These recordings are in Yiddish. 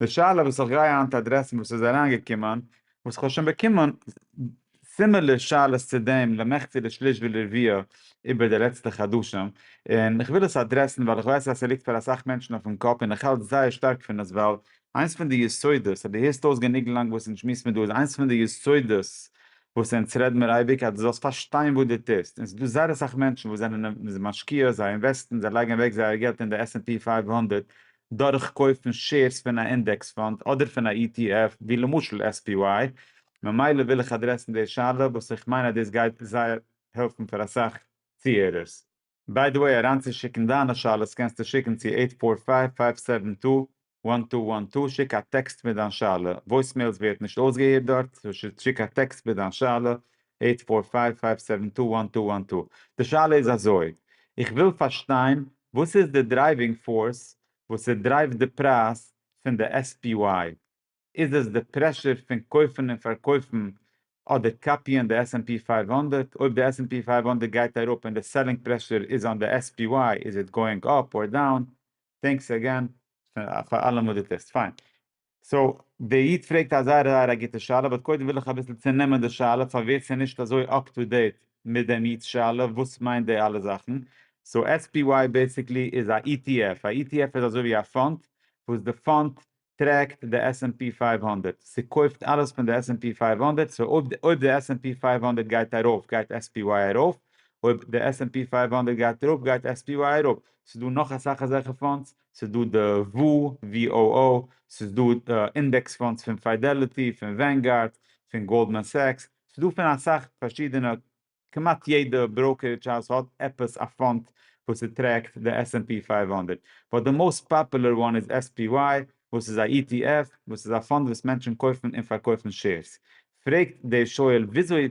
די שאלה וואס איך גיי היינט אדרעסן וואס איז אריין געקומען, וואס איך האב שוין באקומען סימילער שאלות צו דעם למחצה לשליש ולרביע איבער די לעצטע חדשים, און איך וויל עס אדרעסן ווייל איך ווייס אז ס'ליגט פאר אסאך מענטשן אויפן קאפ און איך האלט זייער שטארק פון עס ווייל איינס פון די יסודות, אז דו הערסט אויס גענוג לאנג וואס אונז שמועסן דא, איז איינס פון די יסודות וואס אונז רעד מיר אייביג אז דו זאלסט פארשטיין וואס דו טוסט, און ס'איז דא זייער אסאך מענטשן וואס זענען משקיע, זיי אינוועסטן, זיי לייגן אוועק זייער געלט אין די עס ענד פי פֿינף הונדערט, דורך קויפן שעירס פון א אינדעקס פאנד אדער פון א ETF ווי למשל SPY, ממילא וויל איך אדרעסן די שאלה וואס איך מיין אז דאס גייט זייער העלפן פאר אסאך צוהערערס. ביי די וועי אריינצושיקן דיינע שאלות קענסטו שיקן צו עיט פאר פייוו פייוו סעווען טו וואן טו וואן טו, שיק א טעקסט מיט דיין שאלה, וואויסמעילס ווערט נישט אויסגעהערט דארט, סאו שיק א טעקסט מיט דיין שאלה, עיט פאר פייוו פייוו סעווען טו וואן טו וואן טו. די שאלה איז אזוי, איך וויל פארשטיין וואס איז די דרייווינג פארס וואס ס'דרייווט די פרייז פון די SPY, איז עס די פרעשור פון קויפן און פארקויפן אדער קאפיען די עס ענד פי פייוו הונדערט, אויב די עס ענד פי פייוו הונדערט גייט אראפ און די סעלינג פרעשור איז אן די SPY איז איט גאוינג אפ אר דאון? טענקס אגען פאר אלעם וואס דו טוסט. פיין. סאו, דער איד פרעגט א זייער זייער א גוטע שאלה, באט קודם וויל איך אביסל צונעמען די שאלה פאר ווער ס'איז נישט אזוי אפ טו דעיט מיט דעם איד'ס שאלה וואס מיינט די אלע זאכן. סאו SPY בעיסיקלי איז א ETF, א ETF איז אזוי ווי א פאנד וואס די פאנד טרעקט די עס ענד פי פייוו הונדערט, ס'קויפט אלעס פון די עס ענד פי פייוו הונדערט, סאו אויב אויב די עס ענד פי פייוו הונדערט גייט ארויף גייט SPY ארויף, אויב די עס ענד פי פייוו הונדערט גייט אראפ גייט SPY אראפ, ס'איז דא נאך אסאך אזעלכע פאנדס ס'איז דא די VOO, ס'איז דא אינדעקס פאנדס פון פידעליטי, פון ווענגארד, פון גאלדמאן סעקס, ס'איז דא פון אסאך פארשידענע, כמעט יעדע בראוקערידזש האוז האט עפעס א פאנד וואס ס'טרעקט די עס ענד פי פֿינף הונדערט, באט די מאוסט פאפולער וואן איז SPY וואס איז א ETF וואס איז א פאנד וואס מענטשן קויפן און פארקויפן שעירס. פרעגט דער שואל וויאזוי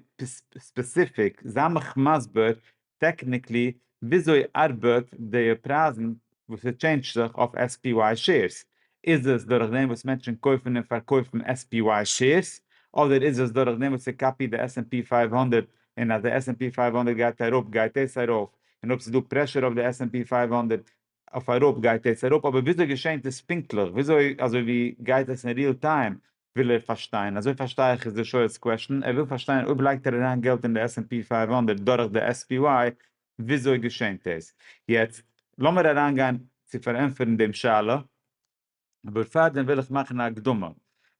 ספעסיפיק, זיי מיך מסביר טעקניקלי וויאזוי ארבעט די פרייזן וואס ס'טשעינדזשט זיך אויף SPY שעירס? איז עס דורך דעם וואס מענטשן קויפן און פארקויפן SPY שעירס? אדער איז עס דורך דעם וואס ס'קאפיט די עס ענד פי פֿינף הונדערט און אז די עס ענד פי פֿינף הונדערט גייט אראפ גייט עס ארויף און אויב ס'איז דא פרעשור אויף די עס ענד פי פֿינף הונדערט אויף אייראפ גייט יעצט אראפ אבער וויאזוי געשענט עס פונקטליך וויאזוי אזוי ווי גייט עס אין ריעל טיים וויל ער פארשטיין אזוי פארשטיי איך איז די שואל'ס קוועשטען ער וויל פארשטיין אויב לייגט ער אריין געלט אין די עס ענד פי פֿינף הונדערט דורך די עס פי וואי וויאזוי געשענט עס יעצט לאמיר אריינגיין צו פארענטפערן דעם שאלה. אבער פארדעם וויל איך מאכן א הקדמה.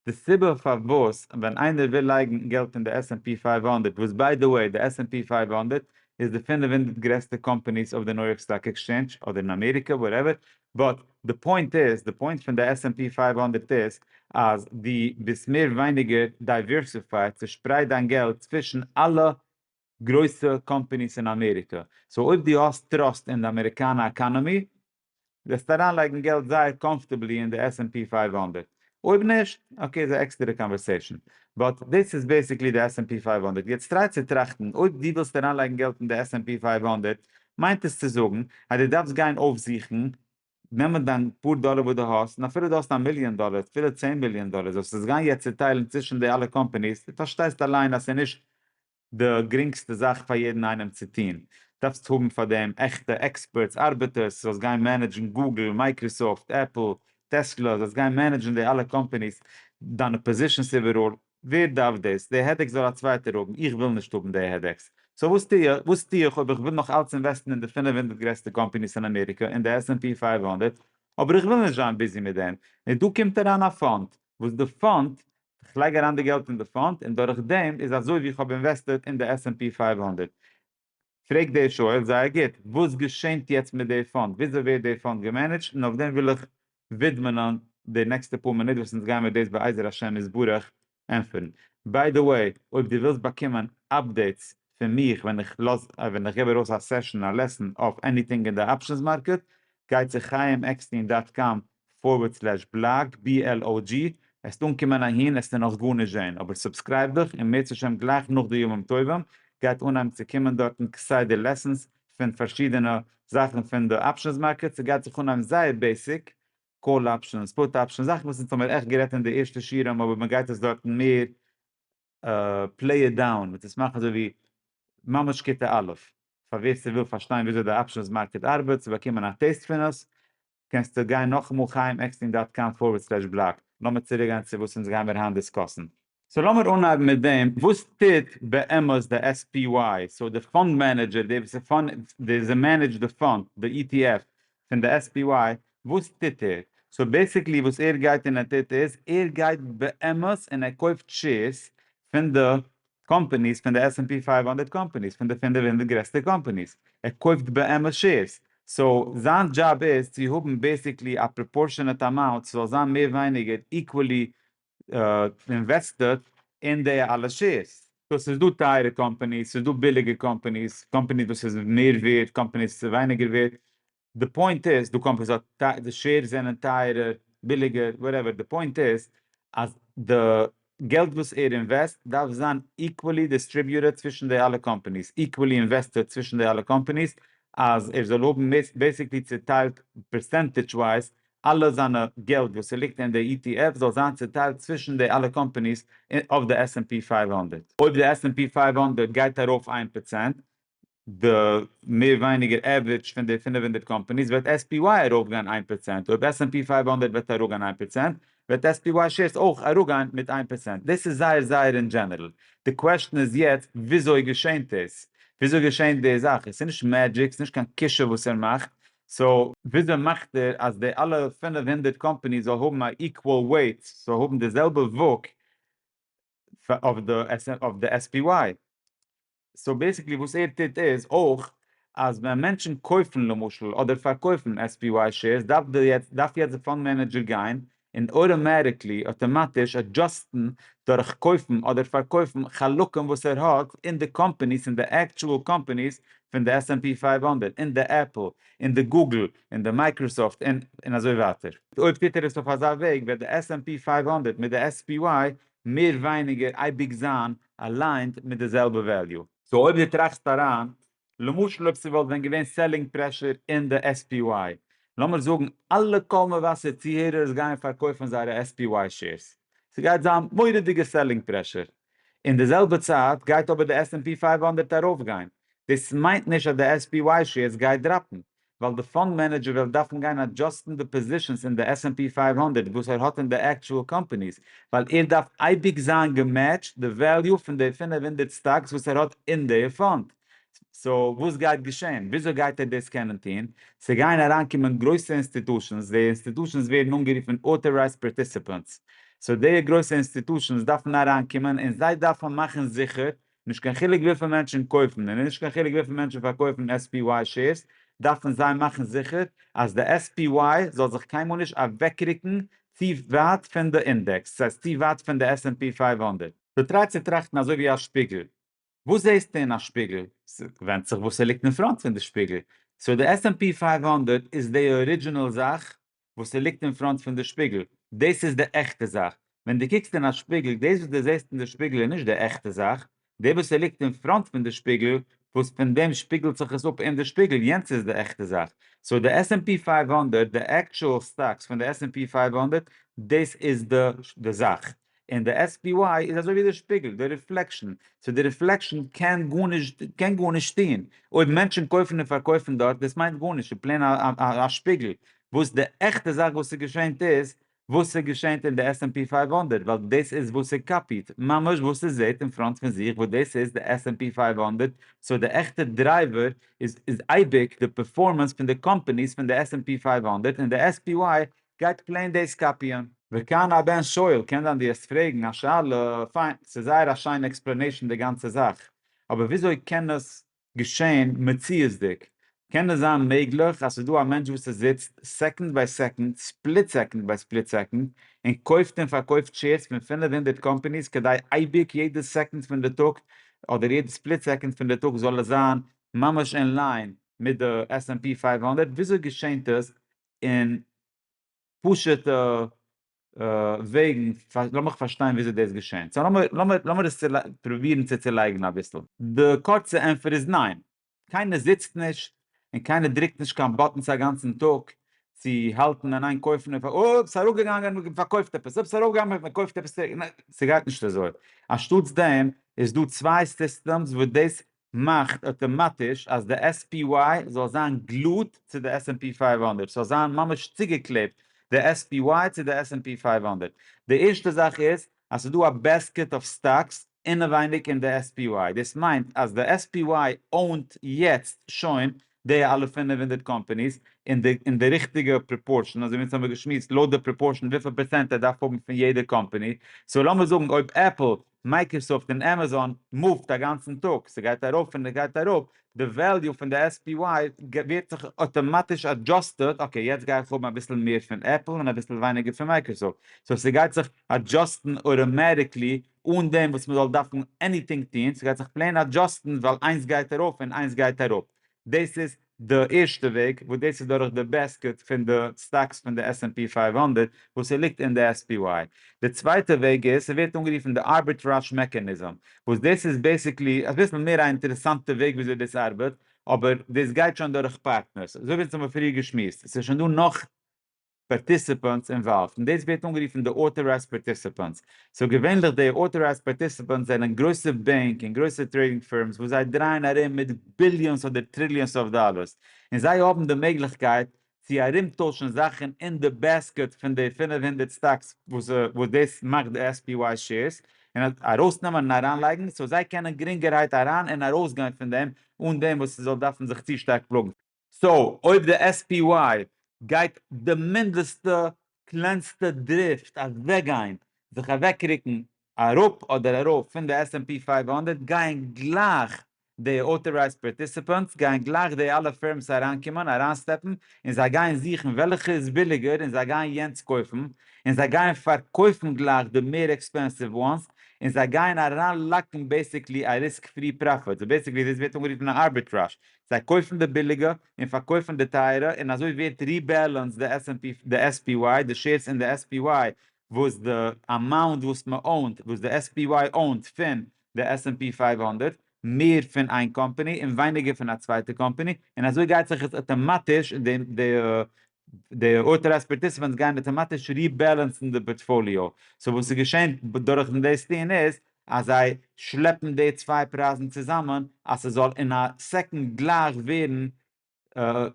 די סיבה פארוואס ווען איינער וויל לייגן געלט אין די עס ענד פי פייוו הונדערט, וואס ביי די וועי די עס ענד פי פייוו הונדערט איז די פֿינף הונדערט גרעסטע קאמפאניס אויף די ניו יארק סטאק עקסטשענדזש, אדער אין אמעריקע, וואטעווער, באט די פוינט איז, די פוינט פון די עס ענד פי פֿייוו הונדערט איז אז דו ביסט מער ווייניגער דייווערסיפייד, צושפרייט דיין געלט צווישן אלע גרויסע קאמפעניס אין אמעריקע, סאו אויב דו האסט טראסט אין די אמעריקאנע אקאנאמי וועסטו אריינלייגן געלט זייער קאמפארטעבלי אין די עס ענד פי פֿינף הונדערט, אויב נישט, אקעי איז א עקסטערע קאנווערסעישאן, באט דאס איז בעסיקלי די עס ענד פי פֿינף הונדערט, יעצט טריי צו טראכטן, אויב דו ווילסט אריינלייגן געלט אין די עס ענד פי פֿינף הונדערט, מיינט עס צו זאגן אז דו דארפסט גיין אויפזוכן, נעמען דיין פאר דאלער וואס דו האסט, און אפילו דו האסט א מיליאן דאלער, אפילו צען מיליאן דאלער, זאלסט עס גיין יעצט צוטיילן צווישן די אלע קאמפעניס, דו פארשטייסט אליין אז ס'איז נישט די גרינגסטע זאך פאר יעדן איינעם צו טון, דארפסט האבן פאר דעם עכטע עקספערטס, ארבעטערס, זאלסט גיין מענעדזשן גוגל, מייקראסאפט, עפל, טעסלא, זאלסט גיין מענעדזשן די אלע קאמפאניס, דיינע פאזישנס איבעראל, ווער דארף דאס? די העדעקס זאל א צווייטער האבן, איך וויל נישט האבן די העדעקס, סאו וואס טו איך? וואס טו איך אויב איך וויל נאך אלץ אינוועסטן אין די פֿינף הונדערט גרעסטע קאמפאניס אין אמעריקע, אין די עס ענד פי פֿינף הונדערט, אבער איך וויל נישט זיין ביזי מיט דעם, און דא קומט אריין א פאנד, וואס די פאנד איך לייג אריין די געלט אין די פאנד און דורך דעם איז אזוי ווי איך האב אינוועסטעד אין די עס ענד פי פֿינף הונדערט. פרעגט דער שואל זייער גוט, וואס געשענט יעצט מיט די פאנד? וויאזוי ווערט די פאנד געמענעדזשט? און אויף דעם וויל איך ווידמענען די נעקסטע פאר מינוט וואס אונז גיימער דאס בעזר השם יתברך ענטפערן. ביי די וועי, אויב דו ווילסט באקומען אפדעיטס פון מיך ווען איך לאז ווען איך געב ארויס א סעשאן א לעסן אויף עניטינג אין די אפשענס מארקעט, גיי צו חייםעקסטין דאט קאם פארווערד סלעש בלאג BLOG, עסט אנקומען אהין, עסט איר נאך גארנישט זעהן, אבער סובסקרייב דיך, און מערצע השם גלייך נאך די ימים טובים גייט אנהייבן צו קומען דארטן כסדר לעסענס פון פארשידענע זאכן פון די אפשענס מארקעט, ס'גייט זיך אנהייבן זייער בעיסיק, קאל אפשענס, פוט אפשענס, זאכן וואס אונז האמיר עכט גערעדט אין די ערשטע שיעורים אבער מ'גייט עס דארטן מער פלעי איט דאון, מ'טוט עס מאכן אזוי ווי ממש כיתה א', פאר ווער ס'וויל פארשטיין וויאזוי די אפשענס מארקעט ארבעט, צו באקומען א טעיסט פון עס, קענסטו גיין נאכאמאל חיים עקסטין דאט קאם פארווערד סלעש בלאג, לאמיר צוריקגיין צו וואס אונז גיימיר היינט דיסקאסן. סאו לאמיר אנהייבן מיט דעם, וואס טוט באמת די SPY, סאו די פאנד מענעדזשער, די וואס איז מענעדזשט די פאנד, די ETF פון די SPY, וואס טוט ער? סאו בעסיקלי וואס ער גייט און ער טוט איז, ער גייט באמת און ער קויפט שעירס פון די קאמפעניס פון די עס ענד פי פֿינף הונדערט קאמפעניס פון די פינעף הונדערט גרעסטע קאמפעניס, ער קויפט באמת שעירס, סאו זיין דזשאב איז צו האבן בעסיקלי א פראפארשענעט אמאונט ס'זאל זיין מער ווייניגער איקוועלי אינוועסטעד אין די אלע שעירס. סאו ס'איז דא טייערע קאמפעניס, ס'איז דא ביליגע קאמפעניס, קאמפעניס וואס איז מער ווערט, קאמפעניס וואס איז ווייניגער ווערט, די פוינט איז דו קאמפענסירט די שעירס זענען טייערער ביליגער וואטעווער די פוינט איז אז די געלט וואס ער אינוועסט דארף זיין איקוועלי דיסטריביוטעד צווישן די אלע קאמפעניס איקוועלי אינוועסטעד צווישן די אלע קאמפעניס אז ער זאל האבן בעסיקלי צוטיילט פערסענטעדזש ווייז אלע זיינע געלט וואס ס'ליגט אין די ETF זאל זיין צוטיילט צווישן די אלע קאמפעניס אויף די עס ענד פי פייוו הונדערט. אויב די עס ענד פי פייוו הונדערט גייט ארויף איין פראצענט די מער ווייניגער עוורידזש פון די פֿינף הונדערט קאמפאניס וועט עס פי וויי ארויפגיין איין פראצענט, אויב עס ענד פי פֿינף הונדערט וועט אראפגיין איין פראצענט וועט עס פי וויי שעירס אויך אראפגיין מיט איין פראצענט, דאס איז זייער זייער אין דזשענערל, די קוועשטען איז יעצט וויאזוי געשענט עס? וויאזוי געשענט די זאך? עס איז נישט מעדזשיק, עס איז נישט קיין קישור וואס ער מאכט, סאו. וויאזוי מאכט ער אז די אלע פֿינף הונדערט קאמפאניס זאל האבן א איקוואל וועיט, זאל האבן די זעלבע וואג אויף די עס פי וויי? סאו בעסיקלי וואס ער טוט איז אויך אז ווען מענטשן קויפן למשל אדער פארקויפן SPY שעירס דארף די יעצט דארף יעצט די פאנד מענעדזשער גיין און אויטאמעטיקלי אויטאמאטיש אדזשאסטן דורך קויפן אדער פארקויפן חלקים וואס ער האט אין די קאמפאניס אין די עקטשועל קאמפאניס פון די SNP פֿינף הונדערט אין די עפל אין די גוגל אין די מייקראסאפט אין און אזוי ווייטער. אויב טוט ער עס אויף אזא וועג וועט די SNP פֿינף הונדערט מיט די SPY מער ווייניגער אייביג זיין אליינד מיט די זעלבע וועליו. סאו אויב דו טראכסט אריין, למשל אויב ס'וואלט ווען געווען סעלינג פרעשור אין די SPY, לאמיר זאגן אלע קול מבשר צוהערערס גייען פארקויפן זייערע SPY שעירס, ס'גייט זיין מורא'דיגע סעלינג פרעשור, אין די זעלבע צייט גייט אבער די עס ענד פי פייוו הונדערט ארויפגיין, דאס מיינט נישט אז די SPY שעירס גייט דראפן, ווייל די פאנד מענעדזשער וועלט דארפן גיין אדזשאסטן די פאזישענס אין די עס ענד פי פֿינף הונדערט וואס ער האט אין די עקטשועל קאמפעניס, ווייל ער דארף אייביג זיין געמעטשט די וועליו פון די פֿינף הונדערט סטאקס וואס ער האט אין די פאנד. סאו וואס גייט געשען? וויאזוי גייט ער דאס קענען טון? ס'גייען אריינקומען גרויסע אינסטיטושענס, די אינסטיטושענס ווערן אנגערופן אוטארייזד פארטיסיפענטס, סאו די גרויסע אינסטיטושענס דארפן אריינקומען און זיי דארפן מאכן זיכער נישט קיין חילוק וויפיל מענטשן קויפן און נישט קיין חילוק וויפיל מענטשן פארקויפן SPY שעירס דארפן זיי מאכן זיכער אז די SPY זאל זיך קיינמאל נישט אוועקרוקן צו ווייט פון די אינדעקס, דאס הייסט צו ווייט פון די עס ענד פי פֿינף הונדערט. דו טרייסט צו טראכטן אזוי ווי א שפיגל. וואס זעהסטו אין א שפיגל? ס'ווענדט זיך וואס ס'ליגט אין פראנט פון די שפיגל. סאו די עס ענד פי פֿינף הונדערט איז די ארידזשינעל זאך וואס ס'ליגט אין פראנט פון די שפיגל, דאס איז די עכטע זאך. ווען דו קוקסט אין א שפיגל, דאס וואס דו זעסט אין די שפיגל איז נישט די עכטע זאך, די וואס ס'ליגט אין פראנט פון די שפיגל, וואס פון דעם שפיגלט זיך עס אפ אין די שפיגל, יענץ איז די עכטע זאך. סאו די עס ענד פי פייוו הונדערט, די עקטשועל סטאקס פון די עס ענד פי פייוו הונדערט, דאס איז די זאך. און די SPY איז אזוי ווי די שפיגל, די ריפלעקשאן, סאו די ריפלעקשאן קען גארנישט קען גארנישט טוהן, אויב מענטשן קויפן און פארקויפן דארט דאס מיינט גארנישט, ס'איז פלעין א שפיגל, וואס די עכטע זאך וואס איז געשענט איז וואס איז געשענט אין די עס ענד פי פייוו הונדערט, ווייל דאס איז וואס איז קאפיעט, ממש וואס איז זעהט אין פראנט פון זיך וואס דאס איז די עס ענד פי פייוו הונדערט, סאו די עכטע דרייווער איז איז אייביג די פערפארמענס פון די קאמפעניס פון די עס ענד פי פייוו הונדערט, און די SPY גייט פלעין דאס קאפיען. וכאן הבן שואל, קען זיין דו העסט פרעגן א שאלה, פיין, ס'איז זייער א שיינע עקספלענעישן די גאנצע זאך, אבער וויאזוי קען עס געשען מציאות'דיג? קען עס זיין מעגליך אז ס'איז דא א מענטש וואס עס זיצט סעקאנד ביי סעקאנד, ספליט סעקאנד ביי ספליט סעקאנד, און קויפט און פארקויפט שעירס פון פֿינף הונדערט קאמפאניס כדי אייביג יעדע סעקאנד פון די טאג אדער יעדע ספליט סעקאנד פון די טאג זאל עס זיין ממש אין ליין מיט די עס ענד פי פֿינף הונדערט, וויאזוי געשענט עס אין פשוט'ע וועגן, לאמיך פארשטיין וויאזוי דאס געשענט, סא לאמיר לאמיר עס פרובירן צו צעלייגן אביסל. די קורצע ענטפער איז ניין. קיינער זיצט נישט און קיינער דרוקט נישט קיין באטענס א גאנצן טאג צו האלטן אין איין קויפן און פארקויפן, אופס ס'איז אראפגעגאנגען מען פארקויפט עפעס, אופס ס'איז ארויפגעגאנגען מען קויפט עפעס צוריק, ניין ס'גייט נישט אזוי, אנשטאטס דעם איז דא צוויי סיסטעמס וואס דאס מאכט אטאמאטיש אז די SPY זאל זיין גלוט צו די עס ענד פי פֿינף הונדערט, ס'זאל זיין ממש צוגעקלעבט די SPY צו די עס ענד פי פֿינף הונדערט. די ערשטע זאך איז אז ס'איז דא א בעסקעט אוו סטאקס אינעווייניג אין די SPY, דאס מיינט אז די SPY אוינט יעצט שוין די אלע פֿינף הונדערט קאמפאניס אין די ריכטיגע פראפארשען, אזוי ווי אונז האמיר געשמועסט לויט די פראפארשען וויפיל פערצענט ער דארף האבן פון יעדע קאמפאני, סאו לאמיר זאגן אויב עפל מייקראסאפט און עמעזאן מופט א גאנצן טאג, ס'גייט ארויף און ס'גייט אראפ, די וועליו פון די SPY ווערט זיך אטאמאטיש אדזשאסטעד, אקעי יעצט גיי איך האבן אביסל מער פון עפל און אביסל ווייניגער פון מייקראסאפט, סאו ס'גייט זיך אדזשאסטן אוטאמעטיקלי אן דעם וואס מ'זאל דארפן עניטינג טון, ס'גייט זיך פלעין אדזשאסטן ווייל איינס גייט ארויף און איינס גייט אראפ, דאס איז די ערשטע וועג, וואס דאס איז דורך די בעסקעט פון די סטאקס פון די עס ענד פי פֿינף הונדערט וואס ס'ליגט אין די עס פי וואי. די צווייטע וועג איז, ס'ווערט אנגערופן די ארביטראזש מעקאניזם, וואס דאס איז בעסיקלי אביסל מער א אינטערעסאנטע וועג וויאזוי דאס ארבעט, אבער דאס גייט שוין דורך פארטנערס, אזוי ווי אונז האבן פריער געשמועסט, ס'איז שוין דא נאך. פארטיסיפאנטס אינוואלווד און דאס ווערט אנגערופן די אוטארייזד פארטיסיפאנטס. סאו געווענליך די אוטארייזד פארטיסיפאנטס זענען גרויסע בענק און גרויסע טרעידינג פירמס וואס זיי דרייען ארום מיט ביליאנס אדער טריליאנס אוו דאלארס און זיי האבן די מעגליכקייט צו ארומטוישן זאכן אין די בעסקעט פון די פֿינף הונדערט סטאקס וואס דאס מאכט די SPY שעירס און ארויסנעמען און אריינלייגן סאו זיי קענען גרינגערהייט אריין און ארויסגיין פון דעם אן דעם וואס ס'זאל דארפן זיך צו שטארק פלאגן. סאו אויב די SPY גייט די מינדעסטע קלענסטע דריפט אוועקגיין, זיך אוועקרוקן אראפ אדער ארויף פון די עס ענד פי פֿינף הונדערט גייען גלייך די אוטארייזד פארטיסיפענטס גייען גלייך די אלע פירמס אריינקומען אריינ'סטעפן און זיי גייען זוכן וועלכע איז ביליגער און זיי גייען יענץ קויפן און זיי גייען פארקויפן גלייך די מער עקספענסיוו וואנס און זיי גייען אריינלאקן בעסיקלי א ריסק פרי פראפיט, סאו בעסיקלי דאס ווערט אנגערופן א ארביטראזש זיי קויפן די ביליגע און פארקויפן די טייערע און אזוי ווערט ריבעלענסד די עס ענד פי, די עס פי וויי, די שעירס אין די עס פי וויי וואס די אמאונט וואס מען אוינט, וואס די עס פי וויי אוינט פון די עס ענד פי פייוו הונדערט, מער פון איין קאמפאני און ווייניגער פון א צווייטע קאמפאני, און אזוי גייט זיך עס אטאמאטיש די די אוטארייזד פארטיסיפענטס גייען אטאמאטיש ריבעלענסן די פארטפאליאו, סאו וואס ס'געשענט דורכן דאס טוהן איז אז זיי שלעפן די צוויי פרייזן צוזאמען אז ס'זאל אין א סעקאנד גלייך ווערן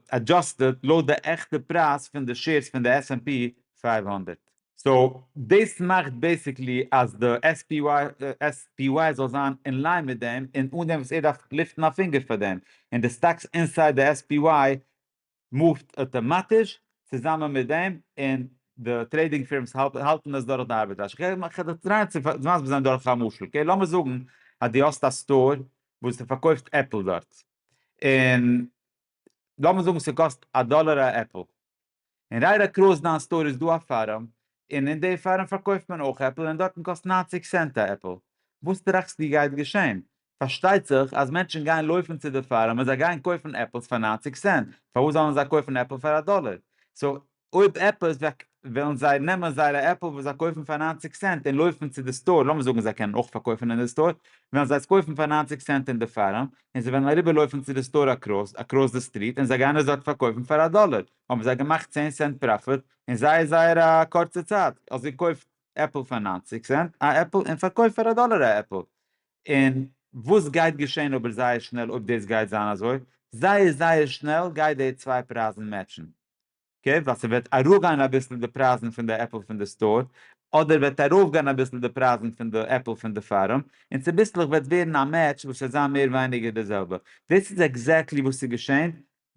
עדזשאסטעד לויט די עכטע פרייז פון די שעירס פון די עס ענד פי פֿינף הונדערט. סאו דאס מאכט בעיסיקלי אז די עס פי וואי זאל זיין אין ליין מיט דעם און אן דעם וואס ער דארף ליפטן א פינגער פאר דעם, און די סטאקס אינסייד די עס פי וואי מופט אטאמאטיש צוזאמען מיט דעם און די טרעידינג פירמס האלטן עס דורך די ארביטראזש. כדי טרייען צו מסביר זיין דורך א משל. אקעי לאמיר זאגן אז דו האסט א סטאר וואס דו פארקויפט עפל דארט און לאמיר זאגן ס'קאסט א דאלער א עפל און רייט אקראס דיין סטאר איז דא א פארעם און אין די פארעם פארקויפט מען אויך עפל און דארטן קאסט נײַנציק סענט א עפל. וואס טראכסטו גייט געשען? פארשטייט זיך אז מענטשן גייען לויפן צו די פארם און זיי גייען קויפן עפלס פאר נײַנציק סענט, פארוואס זאלן זיי קויפן עפל פאר א דאלער? סאו אויב עפעס וועלן זיי נעמען זייערע עפל וואס זיי קויפן פאר נײַנציק סענט און לויפן צו די סטאר, לאמיר זאגן זיי קענען אויך פארקויפן אין די סטאר, וועלן זיי עס קויפן פאר נײַנציק סענט אין די פארם, און זיי וועלן אריבער לויפן צו די סטאר אקראס אקראס די סטריט און זיי גייען עס דארט פארקויפן פאר א דאלער, האבן זיי געמאכט צען סענט פראפיט אין זייער זייער א קורצע צייט, אלזא קויף עפל פאר נײַנציק סענט א עפל און פארקויף פאר א דאלער א עפל, און וואס גייט געשען אבער זייער שנעל אויב דאס גייט זיין אזוי, זייער זייער שנעל גייט די צוויי פרייזן מעטשן, אקעי, ווייל ס'וועט אראפגיין אביסל די פרייזן פון די עפל פון די סטאר, אדער וועט ארויפגיין אביסל די פרייזן פון די עפל פון די פארעם, און צוביסלעך וועט ווערן א מעטש וואס וועט זיין מער ווייניגער די זעלבע. דאס איז עקזעקטלי וואס איז געשען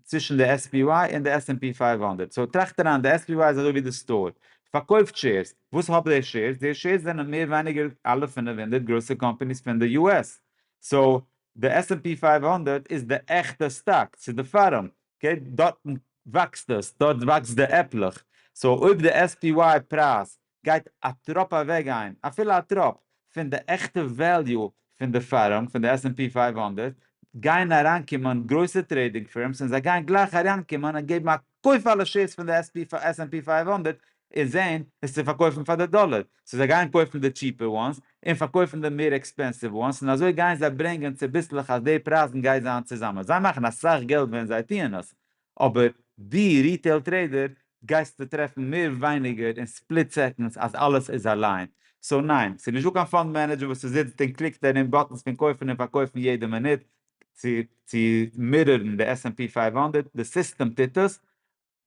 צווישן די עס פי וויי און די עס ענד פי פייוו הונדערט, סאו טראכט אריין, די עס פי וויי איז אזוי ווי די סטאר, פארקויפט שעירס, וואס האבט די שעירס? די שעירס זענען מער ווייניגער אלע פינף הונדערט גרויסע קאמפאניס פון די יו עס, סאו די עס ענד פי פייוו הונדערט איז די עכטע סטאק, ס'איז די פארם, אקעי, דארטן וואקסט עס, דארט וואקסט די עפלעך, סאו אויב די עס פי וויי פרייז גייט א טראפ אוועקגיין, אפילו א טראפ, פון די עכטע וועליו פון די פירם, פון די עס ענד פי פֿינף הונדערט, גייען אריינקומען גרויסע טרעידינג פירמס און זיי גייען גלייך אריינקומען און געבן א קויף אלע שעירס פון די עס ענד פי פֿינף הונדערט און זעהן עס צו פארקויפן פאר די דאלער, סאו זיי גייען קויפן די טשיפער וואנס און פארקויפן די מער עקספענסיוו וואנס און אזוי גייען זיי ברענגען צוביסלעך אז די פרייזן גייט זיין צוזאמען, זיי מאכן אסאך געלט ווען זיי טוען עס, אבער דו ריטעיל טרעידער גייסטו טרעפן מער ווייניגער אין ספליט סעקאנדס אז אלעס איז א ליין. סאו ניין, ס'איז נישטא קיין פאנד מענעדזשער וואס ס'זיצט און קליקט דערין באטענס פון קויפן און פארקויפן יעדע מינוט צו צו מירערן די עס ענד פי פֿינף הונדערט, די סיסטעם טוט עס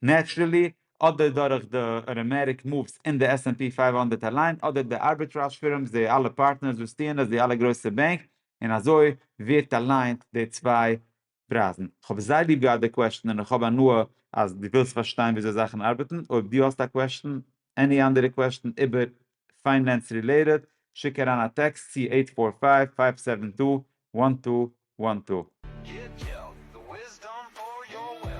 נעטשרעלי אדער דורך די אראמעריק מאווס אין די עס ענד פי פֿינף הונדערט אליין אדער די ארביטראזש פירמס די אלע פארטנערס וואס טוען עס די אלע גרויסע בענק און אזוי ווערט אליינט די צוויי פרייזן. כ'האב זייער ליב געהאט די קוועשטן און כ'האב הנאה אז דו ווילסט פארשטיין וויאזוי זאכן ארבעטן, אויב דו האסט א קוועשטן, עני אנדערע קוועשטן איבער פיינענס רילעיטעד, שיק אריין א טעקסט צו עיט פאר פייוו פייוו סעווען טו וואן טו וואן טו. גיט געלט, די וויזדאם פאר יאר וועלט.